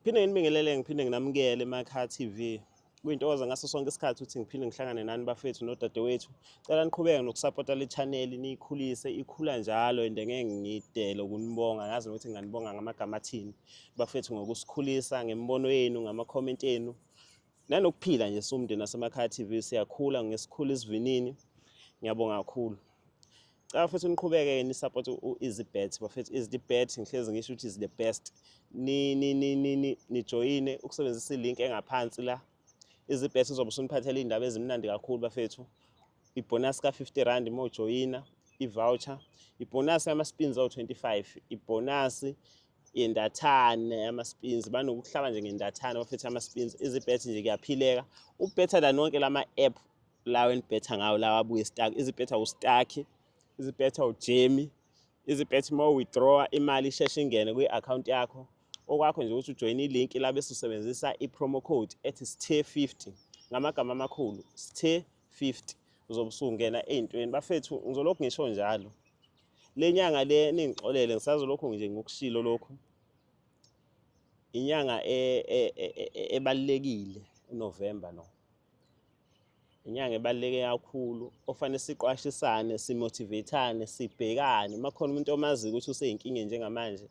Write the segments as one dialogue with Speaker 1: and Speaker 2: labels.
Speaker 1: Phinde nginibingelele ngiphinde nginamukele eMakha TV. Kuyintokoza ngaso sonke isikhathi ukuthi ngiphinde ngihlangane nani bafethu nodadewethu. Cela niqhubeke nokusapota le channel niyikhulise ikhula njalo and ngeke ngidele ukunibonga ngazi ukuthi nginganibonga ngamagama athini bafethu ngokusikhulisa ngemibono yenu ngama comment enu nanokuphila nje siwumndeni wasemakhaya TV siyakhula ngesikhulu isivinini ngiyabonga kakhulu cela futhi niqhubeke ni support u easy bet bafethu is the bet ngihlezi ngisho ukuthi is the best ni ni ni ni ni join ukusebenzisa ilink engaphansi la easy bet uzobe usuniphathela indaba ezimnandi kakhulu bafethu ibonus ka 50 rand mo joina i voucher ibonus yama spins o 25 ibonus yendathane ama-spins banokuhlala nje ngendathane baphethe ama-spins izibet nje kuyaphileka ubetter than wonke lama app lawo enibhetha ngawo lawa abuye stack izibetha ustack izibetha ujemi izibetha uma withdrawa imali isheshe ingene kwi-akhawunti yakho okwakho nje ukuthi ujoyine ilink labe susebenzisa i-promo code ethi sthe 50 ngamagama amakhulu sthe 50 uzobe usungena ezintweni bafethu ngizolokhu ngisho njalo le nyanga le ningixolele ngisazolokhu nje ngokushilo lokhu inyanga e, e, e, ebalekile uNovember no inyanga ebaleke kakhulu ofanele siqwashisane simotivatane sibhekane makhona umuntu omazi ukuthi useyinkinga njengamanje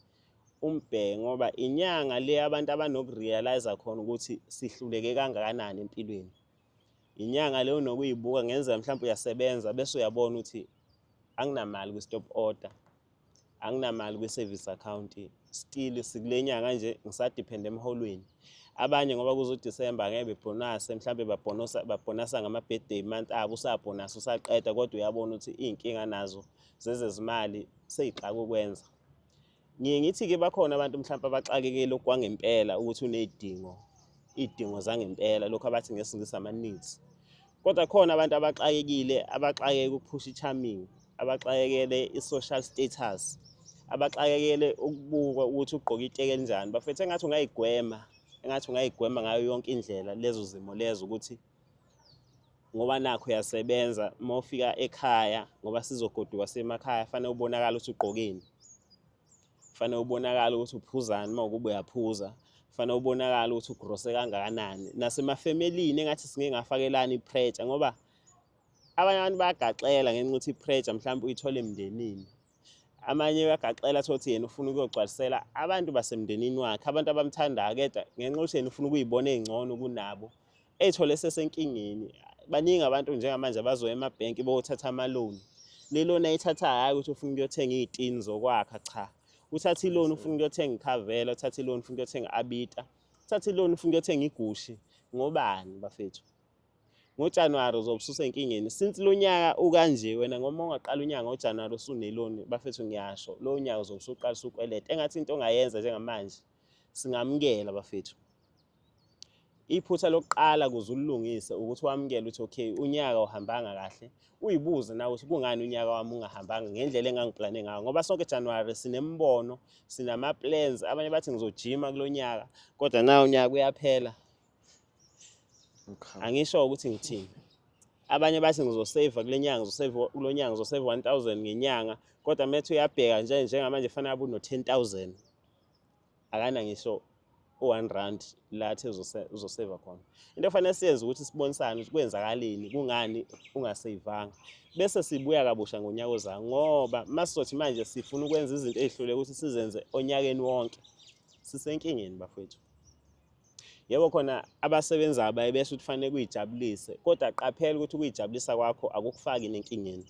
Speaker 1: umbheke ngoba inyanga le abantu abanokurealize khona ukuthi sihluleke kangakanani empilweni Inyanga leyo nokuyibuka ngenzeka mhlawumbe uyasebenza bese uyabona ukuthi anginamali kwi-stop order, anginamali kwi-service account still sikule nyanga nje ngisadiphende emholweni. Abanye ngoba kuzoDisemba ngeke bebhonase mhlawumbe babhonosa babhonasa ngama-birthday month abo usabhonasa usaqeda kodwa uyabona ukuthi iy'nkinga nazo zezezimali seyixaka ukwenza. Ngiye ngithi-ke bakhona abantu mhlawumpe abaxakekele okwangempela ukuthi uney'dingo iy'dingo zangempela lokhu abathi ngesingisi ama-needs kodwa khona abantu abaxakekile abaxakeke ukuphusha i-charming abaxakekele i-social status abaxakekele ukubukwa ukuthi ugqoke iteke elinjani bafethu engathi ungayigwema engathi ungayigwema ngayo yonke indlela lezo zimo lezo ukuthi ngoba nakho uyasebenza uma ufika ekhaya ngoba sizogoduka semakhaya fanele ubonakala ukuthi ugqokeni fanele ubonakala ukuthi uphuzani uma ukube uyaphuza fanele ubonakala ukuthi ugrose kangakanani nasemafemelini engathi singeke ngafakelani ipreja ngoba abanye abantu bayagaxela ngenxa ukuthi ipreja mhlawumbe uyithole emndenini amanye uyagaxela athi ukuthi yena ufuna ukuyogcwalisela abantu basemndenini wakhe abantu abamthandayo keda ngenxa ukuthi yena ufuna ukuyibona ey'ngcono kunabo ey'thole esesenkingeni baningi abantu njengamanje abazoya emabhenki bokuthatha amaloni le lona ayithatha hhayi ukuthi ufuna ukuyothenga iy'tini zokwakha cha uthatha iloni ufuna ukuyothenga ikhavela uthatha iloni ufuna ukuyothenga abita uthatha iloni ufuna ukuyothenga igushi ngobani bafethu ngojanuwari uzobe ususenkingeni since lo nyaka ukanje wena ngoma ungaqala unyaka ngojanuwari usuneloni bafethu ngiyasho lo nyaka uzobe usuqala usukweleta engathi into ongayenza njengamanje singamukela bafethu iphutha lokuqala kuze ulilungise ukuthi wamukele ukuthi okay unyaka uhambanga kahle uyibuze nawe ukuthi kungani unyaka wami ungahambanga ngendlela engangiplane ngayo ngoba sonke January sinembono sinama plans abanye bathi ngizojima kulonyaka kodwa na unyaka uyaphela angisho ukuthi ngithini abanye bathi ngizosave kulenyanga ngizosave kulonyanga ngizosave 1000 ngenyanga kodwa methu uyabheka nje njengamanje fanele abu no 10000 akana ngisho u-one rand la athe uzoseva khona into efanele siyenze ukuthi sibonisane ukuthi kwenzakaleni kungani ungaseyivanga bese sibuya kabusha ngonyaka ozayo ngoba uma sizothi manje sifuna ukwenza izinto ey'hlule ukuthi sizenze onyakeni wonke sisenkingeni bafowethu yebo khona abasebenzayo baye besho ukuthi fanele kuyijabulise kodwa qaphela ukuthi ukuyijabulisa kwakho akukufaki nenkingeni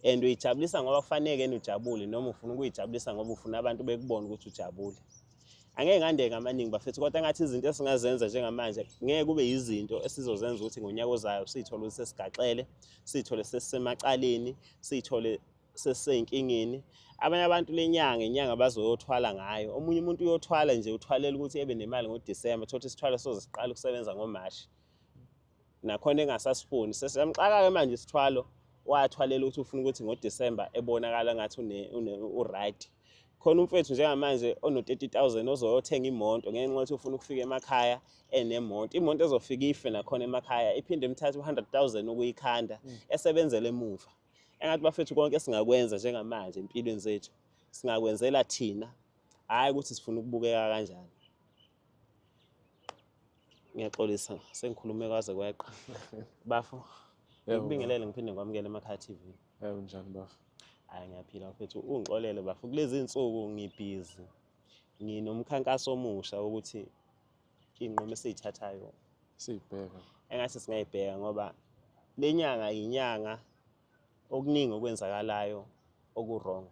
Speaker 1: and uyijabulisa ngoba kufaneke yena ujabule noma ufuna ukuyijabulisa ngoba ufuna abantu bekubona ukuthi ujabule angeke ngandeke amaningi bafethu kodwa ngathi izinto esingazenza njengamanje ngeke kube yizinto esizozenza ukuthi ngonyaka ozayo siyithole ukuthi sesigaxele siyithole sesisemacaleni siyithole sesiseyinkingeni abanye abantu lenyanga inyanga bazoyothwala ngayo omunye umuntu uyothwala nje uthwalela ukuthi ebe nemali ngoDecember thothi isithwalo soze siqala ukusebenza ngoMarch nakhona engasasifuni sesamxaka ke manje isithwalo wathwalela ukuthi ufuna ukuthi ngoDecember ebonakala ngathi une, une uright khona umfethu njengamanje ono-30000 ozoyothenga imoto ngenxa yokuthi ufuna ukufika emakhaya enemoto imoto ezofika ife nakhona emakhaya iphinde imthathe u-100000 ukuyikhanda mm. esebenzela emuva mm. engathi bafethu konke singakwenza njengamanje empilweni zethu singakwenzela thina hhayi ukuthi sifuna ukubukeka kanjani ngiyaxolisa sengikhulume kwaze kweqa bafo ngikubingelele ngiphinde ngikwamukele emakhaya tv yebo njani
Speaker 2: bafo hhayi ngiyaphila
Speaker 1: mfethu ungixolele bafo kulezi nsuku ngibhizi nginomkhankaso omusha wokuthi iy'nqumo esiyithathayo siyibheka
Speaker 2: engathi singayibheka
Speaker 1: ngoba le nyanga yinyanga okuningi okwenzakalayo oku-wrong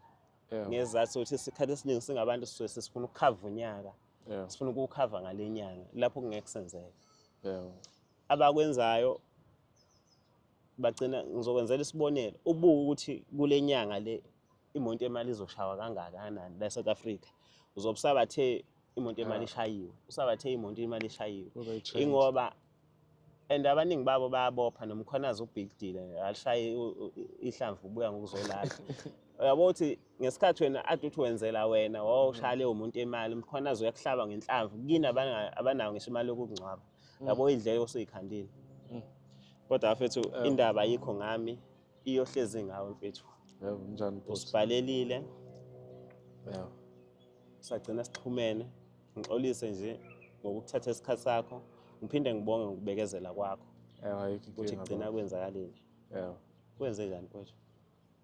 Speaker 1: ngezathu ukuthi isikhathi esiningi singabantu sisuke sesifuna ukukhava unyaka sifuna ukuwukhava ngale nyanga lapho kungeke kusenzeka abakwenzayo bagcina ngizokwenzela isibonelo ubuke ukuthi kule nyanga le imoto emali izoshawa kangakanani la South Africa uzobe usabathe imoto emali ah. ishayiwe usabathe imoto imali ishayiwe ingoba and abaningi babo bayabopha nomkhonazi ubig deal alishaye ihlamvu ubuya ngokuzolala uyabo ukuthi ngesikhathi wena ade uthi wenzela wena wawushaya leyo muntu imali umkhonazi uyakuhlaba ngenhlamvu kini abanayo ngisho imali yokungcwaba mm. yabo idleke osuyikhandile mm. kodwa afethu eh. indaba ayikho ngami iyohlezi ngawe mfethu yebo njani boss
Speaker 2: usibhalelile
Speaker 1: yebo sagcina sixhumene ngixolise nje ngokuthatha isikhathi sakho ngiphinde ngibonge ngokubekezela kwakho yebo ayikho ukuthi inkinga
Speaker 2: kugcina baba. kwenzakalile
Speaker 1: yebo
Speaker 2: kwenze njani mfethu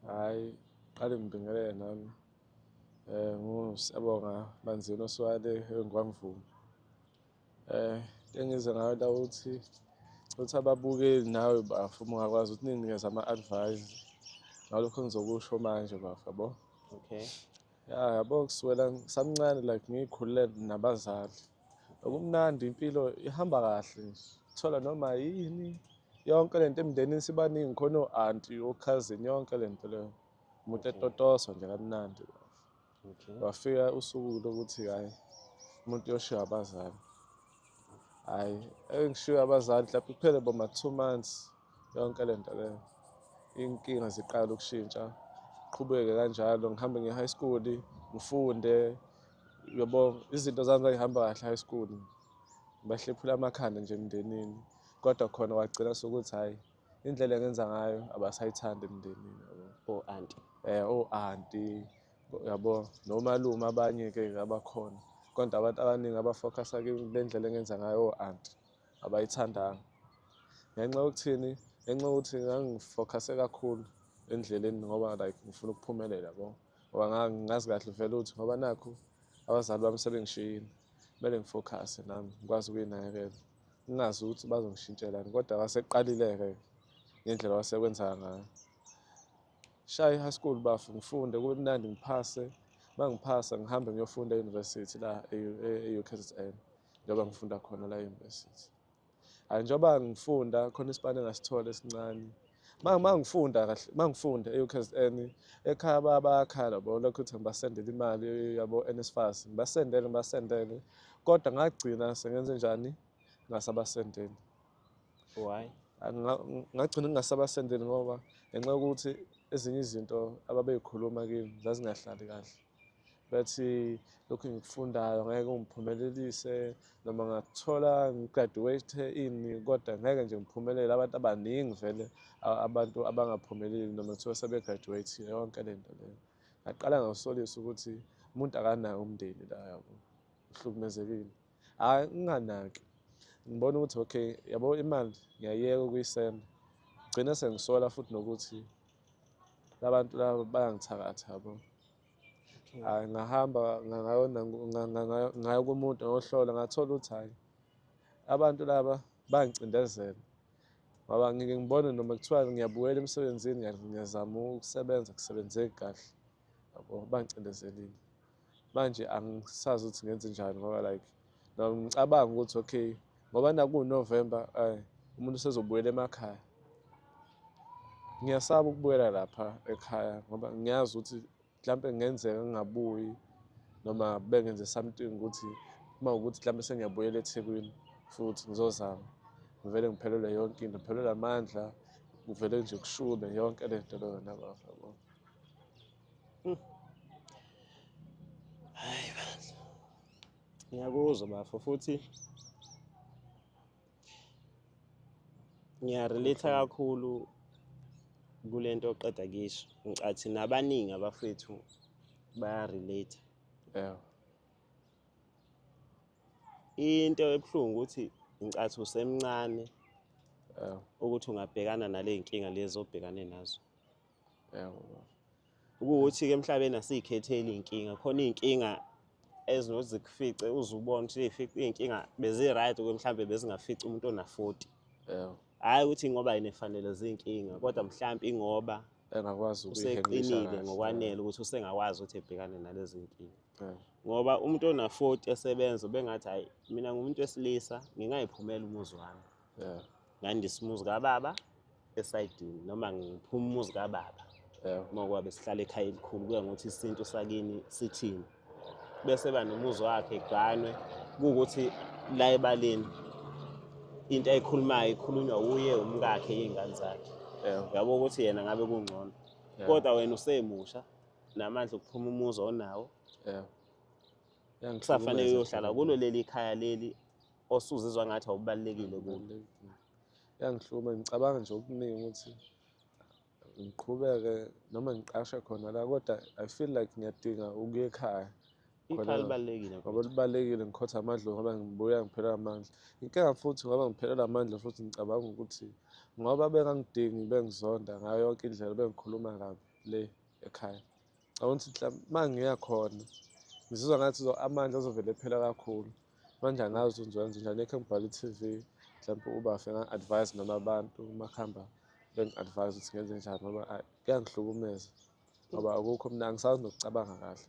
Speaker 1: hayi
Speaker 2: qale ngibingelele nami um ngu siyabonga banzini oswale engikwamvuma Eh, engize ngayo la ukuthi ukuthi ababukeli nawe bafo uma ungakwazi ukuthi ninginikeze ama-advice ngalokho engizokusho manje bafo yabo okay
Speaker 1: ya yabo
Speaker 2: kusukela samncane like ngikhulule nabazali okumnandi impilo ihamba kahle nje thola noma yini yonke le nto emndenini sibaningi khona o-anti okhazini yonke le nto leyo umuntu etotoswa nje kamnandi bafo okay. wafika
Speaker 1: usuku
Speaker 2: lokuthi hayi umuntu uyoshiya abazali hayi engishiya abazali mhlawumbe kuphele boma two months yonke le nto leyo inkinga ziqala ukushintsha qhubeke kanjalo ngihambe ngiye high school ngifunde yabo izinto zami zangihamba kahle high school bahlephula amakhanda nje emndenini kodwa khona wagcina sokuthi hhayi indlela engenza ngayo abasayithandi emndenini yabo o-anti eh
Speaker 1: o-anti
Speaker 2: yabo nomalume abanye-ke abakhona kodwa abantu abaningi abafocusa kule ndlela engenza ngayo o-anti abayithandanga ngenxa yokuthini ngenxa yokuthi ngangifocuse kakhulu endleleni ngoba like ngifuna ukuphumelela yabo ngoba ngazi kahle vele ukuthi ngoba nakho abazali bami sebengishiyile kumele ngifocusse nami ngikwazi ukuyinakekela Ngingazi ukuthi bazongishintshelani kodwa waseqalileke ngendlela wasekwenza ngayo. Shaya i-high school bafo ngifunde kube mnandi ngiphase uma ngiphasa ngihambe ngiyofunda e-university la e-UKZN njengoba ngifunda khona la e-university. Hhayi njengoba ngifunda khona isipani engasithola esincane. mangifunda kahle mangifunda e-ukzn ekhaya bayakhala yabo lokhu ukuthi ngibasendele imali yabo nsfas ngibasendele ngibasendele kodwa ngagcina sengenze njani ngasabasendeli
Speaker 1: why
Speaker 2: ngagcina ngingasabasendeli ngoba ngenxa yokuthi ezinye izinto ababeyikhuluma kimi zazingahlali kahle bathi lokhu engikufundayo ngeke ngiphumelelise noma ngathola ngigraduate ini kodwa ngeke nje ngiphumelele abantu abaningi vele abantu abangaphumeleli noma kuthiwa sebegraduate yonke le nto leyo ngaqala ngakusolisa ukuthi umuntu akanayo umndeni la yabo uhlukumezekile hhayi nginganaki ngibona ukuthi okay yabo imali ngiyayeka ukuyisenda gcine sengisola futhi nokuthi labantu laba bayangithakatha yabo hayi ngahamba ngayona ngayo kumuntu ngohlola ngathola ukuthi hayi abantu laba bangicindezela ngoba ngike ngibone noma kuthiwa ngiyabuyela emsebenzini ngiyazama ukusebenza kusebenzeki kahle yabo bangicindezelile manje angisazi ukuthi ngenze njani ngoba like noma ngicabanga ukuthi okay ngoba nakuwunovember ay umuntu usezobuyela emakhaya ngiyasaba ukubuyela lapha ekhaya ngoba ngiyazi ukuthi mhlawumpe kungenzeka ngingabuyi noma bengenze something ukuthi uma ukuthi mhlawumpe sengiyabuyela ethekwini futhi ngizozama ngivele ngiphelelwe yonke into ngiphelelwe amandla kuvele nje kushube yonke le nto leyo nabafo
Speaker 1: Hmm. Hayi bandla. Ngiyakuzwa bafo futhi ngiyarelate kakhulu kule nto oqeda kisho ngicathi nabaningi abafethu bayarelate yeah. into ebuhlungu ukuthi ngicathi usemncane ukuthi ungabhekana nale nkinga lezi obhekane nazo ukuthi ke emhlabeni asiyikhetheli inkinga khona inkinga ezinozikufice uzubona ukuthi ifice inkinga bezi right ukuthi mhlambe bezingafica umuntu ona 40 yebo hayi ukuthi ngoba yini efanele zinkinga kodwa mhlambe ingoba engakwazi
Speaker 2: useqinile
Speaker 1: ngokwanele ukuthi usengakwazi ukuthi ebhekane nalezi nkinga ngoba umuntu ona 40 esebenza bengathi hayi mina ngumuntu wesilisa ngingayiphumela umuzi wami ngandisa umuzi kababa esayidini noma ngiphuma umuzi kababa uma kwabe sihlala ekhaya elikhulu kuya ngokuthi isintu sakini sithini bese ba nomuzi wakhe eganwe kuwukuthi la ebaleni into ayikhulumayo ikhulunywa wuye umkakhe iy'ngane zakhe yabo ukuthi yena ngabe kungcono kodwa wena usemusha namandla okuphuma umuzi onawo kusafanele uyohlala kulo leli khaya leli osuzizwa ngathi awubalulekile kulo yangihluma
Speaker 2: ngicabanga nje okuningi ukuthi ngiqhubeke noma ngiqashe khona la kodwa i feel like ngiyadinga ukuya ekhaya ikhaya
Speaker 1: libalulekile ngoba libalulekile
Speaker 2: ngikhotha amandla ngoba ngibuya ngiphelelwa amandla inkinga futhi ngoba ngiphelelwa amandla futhi ngicabanga ukuthi ngoba bengangidingi bengizonda ngayo yonke indlela bengikhuluma kabi le ekhaya Ngicabanga ukuthi mhla uma ngiya khona ngizizwa ngathi amandla azovele ephela kakhulu manje angazi ukuthi ngizokwenza njani ekhe ngibhala i-tv mhlawumpe ubafe nga-advise noma abantu uma kuhamba bengi-advise ukuthi ngenze njani ngoba kuyangihlukumeza ngoba akukho mina angisazi nokucabanga kahle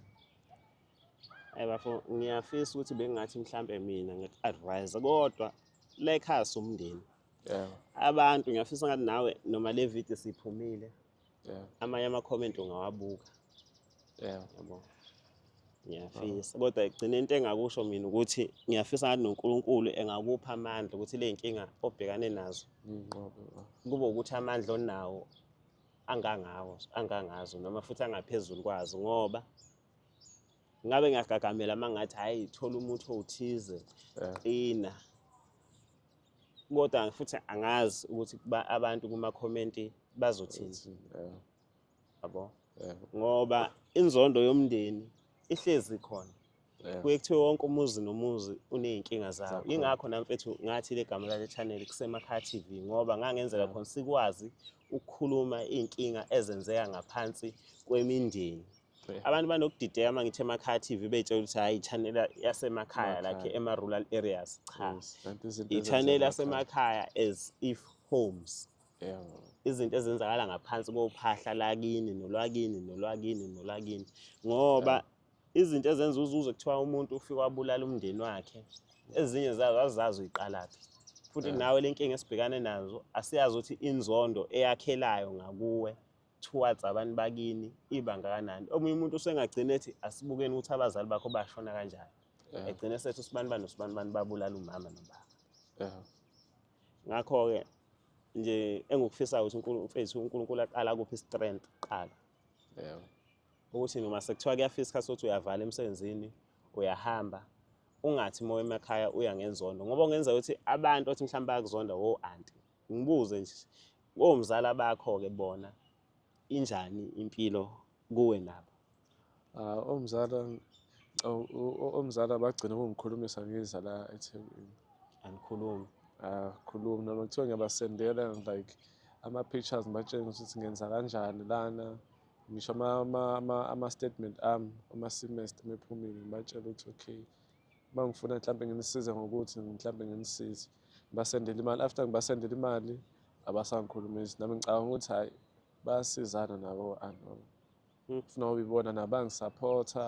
Speaker 1: Hayi bafo ngiyafisa ukuthi bengingathi mhlampe mina ngiku-advise kodwa la ekhaya siwumndeni. Abantu ngiyafisa ngathi nawe noma le video siyiphumile yeah. amanye ama-comment ungawabuka yeah. yabo ngiyafisa oh. kodwa igcine into engakusho mina ukuthi ngiyafisa ngathi nonkulunkulu engakupha amandla ukuthi le nkinga obhekane nazo mm, kube ukuthi amandla onawo angangawo angangazo noma futhi angaphezulu kwazo ngoba ngabe ngiyagagamela uma ngathi hhayi thola umuthi owuthize qina yeah. kodwa futhi angazi ukuthi abantu kumakhomenti bazothini yabo ngoba inzondo yomndeni ihlezi khona kuye kuthiwe wonke umuzi nomuzi uney'nkinga zawo yingakho namfethu ngathi le gama lale channel kusemakhaya t v ngoba ngangenzela khona sikwazi ukukhuluma iy'nkinga ezenzeka ngaphansi kwemindeni abantu banokudideka uma ngithi emakhaya TV betshela ukuthi hayi channel yasemakhaya like ema rural areas cha i channel yasemakhaya as if homes izinto ezenzakala ngaphansi kophahla lakini nolwakini nolwakini nolwakini ngoba izinto ezenza uzuze kuthiwa umuntu ufika wabulala umndeni wakhe ezinye zazo azizazi uyiqalaphi futhi nawe lenkinga esibhekane nazo asiyazi ukuthi inzondo eyakhelayo ngakuwe towards abantu bakini ibanga kanani omunye umuntu usengagcina ethi asibukeni ukuthi abazali bakho bashona kanjani yeah. egcine sethi usibani bani usibani bani babulala umama nobaba yeah. ngakho-ke nje engikufisayo ukuthi mfethu unkulunkulu aqala kuphi strength kuqala yeah. ukuthi noma sekuthiwa kuyafisa isikhathi sokuthi uyavala emsebenzini uyahamba ungathi uma emakhaya uya ngenzondo ngoba kungenzeka ukuthi abantu othi mhlawumbe bayakuzonda wo anti Ngibuze nje komzala bakho ke bona injani impilo kuwe nabo? Ah omzala
Speaker 2: omzala bagcina ukungikhulumisa ngiza la eThekwini. Angikhulumi.
Speaker 1: Ah khulumi
Speaker 2: noma kuthiwa ngiyabasendela like ama pictures ngibatshengisa ukuthi ngenza kanjani lana ngisho ama ama ama statement ami uma semester mephumile ngibatshela ukuthi okay Uma ngifuna mhlawumbe nginisize ngokuthi mhlawumbe nginisize basendele imali after ngibasendele imali abasangikhulumisi nami ngicabanga ukuthi hhayi bayasizana nabo anoma hmm. funa ube ibona nabangisaphotha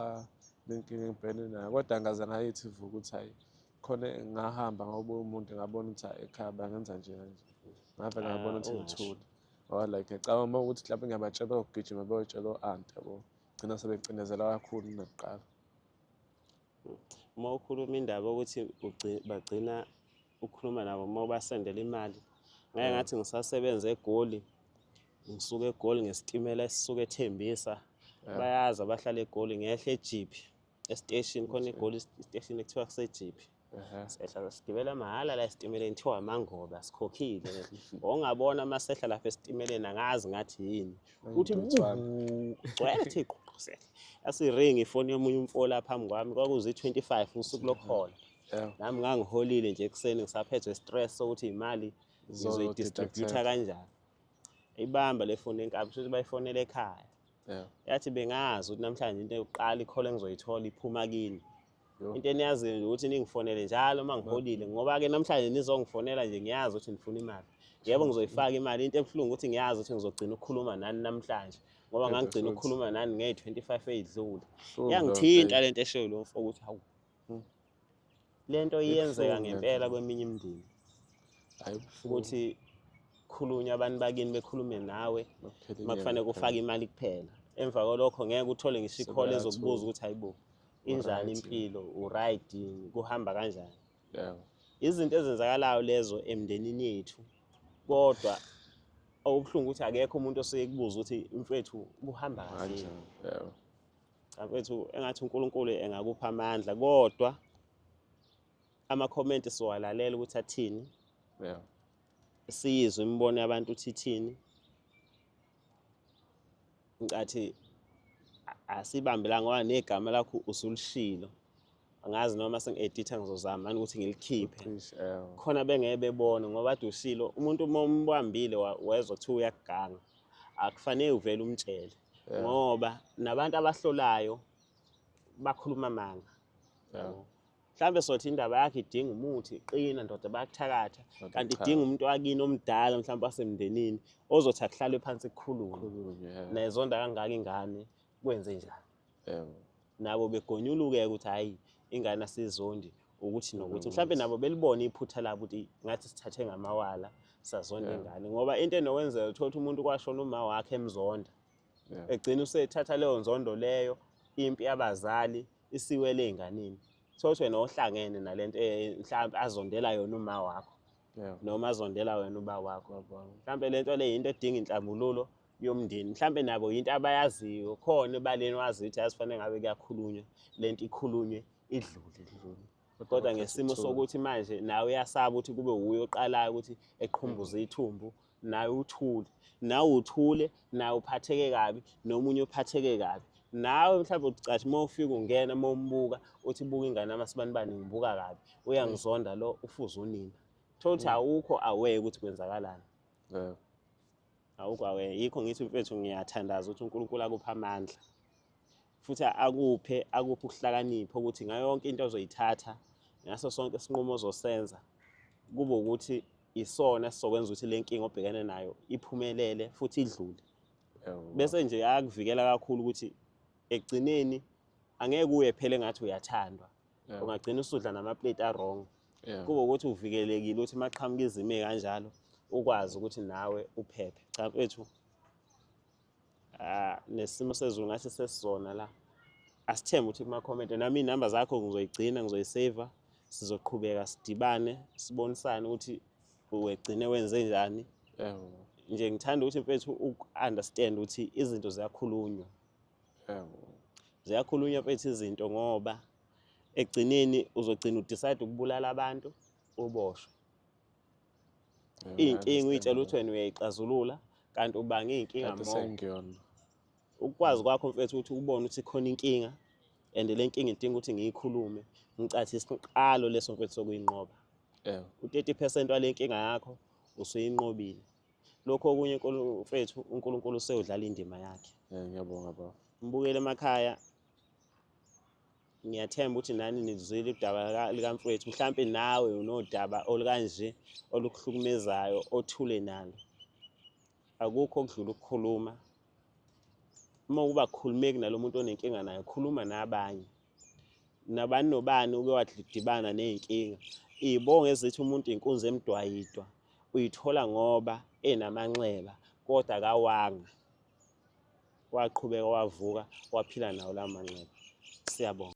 Speaker 2: nenkinga engibhene nayo kodwa ngaze ngayithi vu ukuthi hhayi khona ngahamba ngawubuya umuntu ngabona ukuthi hhayi ekhaya bangenza nje kanje ngave ngabona ukuthi ah, ngithule ngoba like ngicabanga uma ukuthi mhlawumbe ngiyabatshela okugijima beyoyitshela o-ante yabo gcina sebecinezela kakhulu nakuqala
Speaker 1: uma ukhuluma indaba ukuthi bagcina ukukhuluma nabo uma ubasendela imali ngeke ngathi ngisasebenza egoli ngisuke egoli ngesitimela esisuke ethembisa bayazi abahlala egoli ngehla ejiphi esiteshini khona egoli esiteshini ekuthiwa kusejiphi Uhum. Sehla sigibela mahhala la esitimeleni kuthiwa amangobe asikhokhile. Ongabona uma sehla lapha esitimeleni angazi ngathi yini. Uthi gcwele thi qhuqhusela. Yasiring ifoni yomunye umfola phambi kwami kwakuzi 25 usuku lokuhola. Nami ngangiholile nje ekuseni ngisaphethwe stress sokuthi imali ngizoyidistributor kanjani. Ibamba le foni enkabi futhi bayifonela ekhaya. Yathi bengazi ukuthi namhlanje into yokuqala ikhola engizoyithola iphuma kini. into eniyaziyo nje ukuthi ningifonele njalo uma ngiholile ngoba-ke namhlanje nizongifonela nje ngiyazi ukuthi nifuna imali yebo ngizoyifaka imali into ebuhlungu ukuthi ngiyazi ukuthi ngizogcina ukukhuluma nani namhlanje ngoba ngangigcina ukukhuluma nani ngey-twenty five eyidlule yangithinta le nto eshoyo lo mfo ukuthi hawu hmm. le nto iyenzeka ngempela kweminye imindeni ukuthi khulunywa abantu bakini bekhulume nawe uma kufanele kufake imali kuphela emva kwalokho ngeke uthole ngisho ikhole ezokubuza ukuthi hayibo injani Alright. impilo uright yini kuhamba kanjani Yebo. izinto ezenzakalayo lezo emndenini yethu kodwa okubuhlungu ukuthi akekho umuntu osuke kubuza ukuthi mfethu kuhamba kahle Manje. yini?" Yebo. Cha, mfethu engathi unkulunkulu engakupha amandla kodwa amakhomenti siwalalela ukuthi athini Yebo. siyizwe imibono yabantu ukuthi ithini ngicathi asibambelanga ngoba negama lakho usulishilo angazi noma sengi-editha ngizozama ani ukuthi ngilikhiphe eh. khona bengeke bebone ngoba ade ushilo umuntu uma umbambile wezwa kuthiwa uyakuganga akufanele uvele umtshele eh. ngoba nabantu abahlolayo bakhuluma amanga yeah. mhlawumbe sothi indaba yakhe idinga umuthi iqina ndoda bayakuthakatha kanti idinga umuntu wakini omdala mhlawumbe wasemndenini ozothi akuhlalwe phansi kukhulume nezonda kangaka ingane kwenze njani nabo begonyuluke-ke ukuthi hhayi ingane asizondi ukuthi nokuthi mhlawumbe nabo belibone iphutha labo ukuthi ngathi sithathe ngamawala sazonda ingane ngoba into enokwenzeka uthola ukuthi umuntu kwashona uma wakhe emzonda egcina usethatha leyo nzondo leyo impi yabazali yeah. isiwele ey'nganeni thokuthi wena ohlangene nale nto eh, mhlawumbe azondela yona uma wakho noma azondela wena uba wakho mhlawumbe le nto le yinto edinga inhlambululo yomndeni mhlawumbe nabo yinto abayaziyo khona ebaleni wazi ukuthi yazifanele ngabe kuyakhulunywa le nto ikhulunywe idlule idlule kodwa ngesimo sokuthi manje nawe uyasaba ukuthi kube wuye oqalayo ukuthi eqhumbuze ithumbu naye uthule nawe uthule naye uphatheke kabi nomunye uphatheke kabi nawe mhlawumbe uthi cashi uma ufika ungena uma umbuka uthi buka ingane yami asibanibani ngibuka kabi uyangizonda lo ufuze unina thola ukuthi awukho aware ukuthi kwenzakalani Yeah. awukho aware yikho ngithi mfethu ngiyathandaza ukuthi unkulunkulu akuphe amandla futhi akuphe akuphe ukuhlakanipha ukuthi ngayo yonke into ozoyithatha ngaso sonke isinqumo ozosenza kube ukuthi isona sizokwenza ukuthi le nkinga obhekene nayo iphumelele futhi idlule bese nje ayakuvikela kakhulu ukuthi ekugcineni angeke uye phele ngathi uyathandwa ungagcina usudla namaplate awrong kube ukuthi uvikelekile ukuthi maqhamuka izime kanjalo ukwazi ukuthi nawe uphephe cha mfethu Ah, nesimo sezulu ngathi sesizona la asithembe ukuthi kuma-comment nami iy'namba zakho ngizoyigcina ngizoyiseva sizoqhubeka sidibane sibonisane ukuthi wegcine wenze njani Yebo. nje ngithanda ukuthi mfethu uku-understand ukuthi izinto ziyakhulunywa Yebo. ziyakhulunywa mfethu izinto ngoba ekugcineni uzogcina udecide ukubulala abantu uboshwe iy'nkinga uyitshela ukuthi wena uyayixazulula kanti ubanga iy'nkinga mo ukwazi kwakho mfethu ukuthi ubone ukuthi khona inkinga and le nkinga idinga ukuthi ngiyikhulume ngicathi isiqalo leso mfethu sokuyinqoba u-30 percent wale nkinga yakho usuyinqobile lokho okunye mfethu unkulunkulu useyodlala indima yakhe ngiyabonga baba
Speaker 2: mbukele emakhaya
Speaker 1: Ngiyathemba ukuthi nani nilizwile udaba likamfowethu, mhlampe nawe unodaba olukanje olukuhlukumezayo othule nalo. Akukho okudlula ukukhuluma. Uma uba khulumeki nalo muntu onenkinga naye, khuluma nabanye. Nabani nobani uke wadibana ney'nkinga. Iy'bongo ezithi umuntu inkunzi emdwayidwa uyithola ngoba enamanxeba kodwa akawanga. waqhubeka wavuka waphila nawo la manxeba siyabonga